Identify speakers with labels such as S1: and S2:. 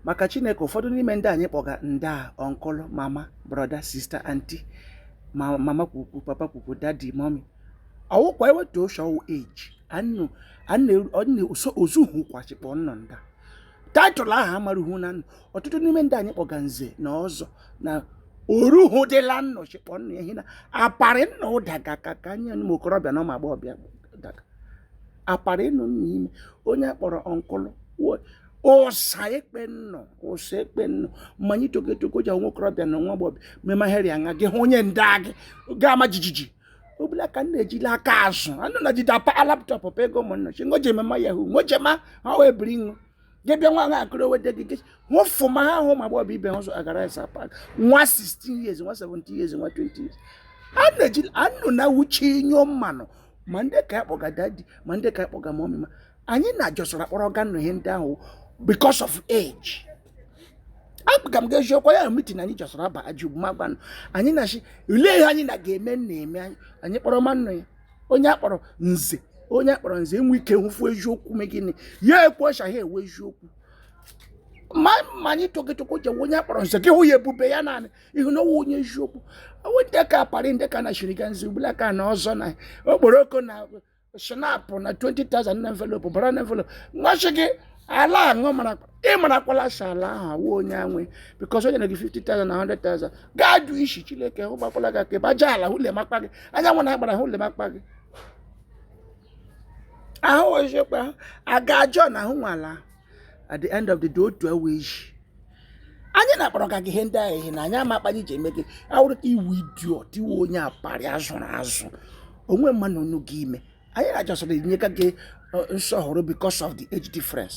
S1: maka chineke ụfọdụ n'ime ndị anyị kpọga nda uncle mama brother sister auntie mama kwukwu papa kwukwu daddy mommy ọ wụkwa eweta issue of age ozuhu kwachikpọ nnọ nda title ahụ amaruhu na ọtụtụ n'ime ndị anyị kpọga nze na ọzọ na oruhu dịla nnọ chikpọ nnọ ehi na aparị nnọ ụdaga ka ka anyị ụmụ okorobịa na ụmụ agbọghọbịa aparị nnọ n'ime onye akpọrọ uncle ụsa ekpe nnọ ụsa ekpe nnọ ma anyị togo etogo ji nwa okorobịa na nwa agbọghọ mema heri anya gị hụ onye nda gị ga ama jijiji ọbụla ka m na-ejila aka azụ anụ na jide apa laptop pa ego ụmụnna chi ngoji emema yahu ngojema ha wee biri nwa gị bịa nwa akụrụ weta gị gị nwụfụ ma ha hụ ma gbọbụ ibe ha ụzọ agara esa pak nwa 16 years nwa 17 years nwa 20 years a na-eji anụ na wuchi nyụọ mmanụ ma ndị ka akpọga daddy ma ndị ka akpọga mommy ma anyị na-ajọsọrọ akpọrọga nụ ihe ndị ahụ because of age aga m ga-eji ọkwa ya meeting anyị jọsọrọ aba ajụ ma gbanụ anyị na-achị olee ihe anyị na ga-eme na-eme anyị kpọrọ mmanụ ya onye akpọrọ nze onye akpọrọ nze enwe ike nwụfu eziokwu me gịnị ya ekwu ọcha ha ewe eziokwu ma ma anyị toketoko jewe onye akpọrọ nze gị hụ ya ebube ya naanị ihu na ọ wụ onye eziokwu ọ wụ ndị ka aparị ndị ka na shiriga nze ugbula ka na ọzọ na okporoko na schnapp na 20,000 na envelope bara na envelope nwachi gị ala aṅụ mara ị marakwala sala ahụ awụ onye anwe because onye na gị 50,000 na 100,000 gaa jụ isi chineke hụ gbakwala gị aka ebe aja ala hụ lemakpa gị anyanwụ na agbara hụ lemakpa gị ahụ ozikwa aga ajọ na ahụ nwala at the end of the day otu ewe age anyị na-akpọrọga gị ihe ndị ahụ ihe na anyị ama akpanye ji eme gị awụrụ ka ị wụ idiot ị wụ onye aparị azụrụ azụ onwe mmanụ onu gị ime anyị na-achọsịrị enyega gị nsọhụrụ because of the age difference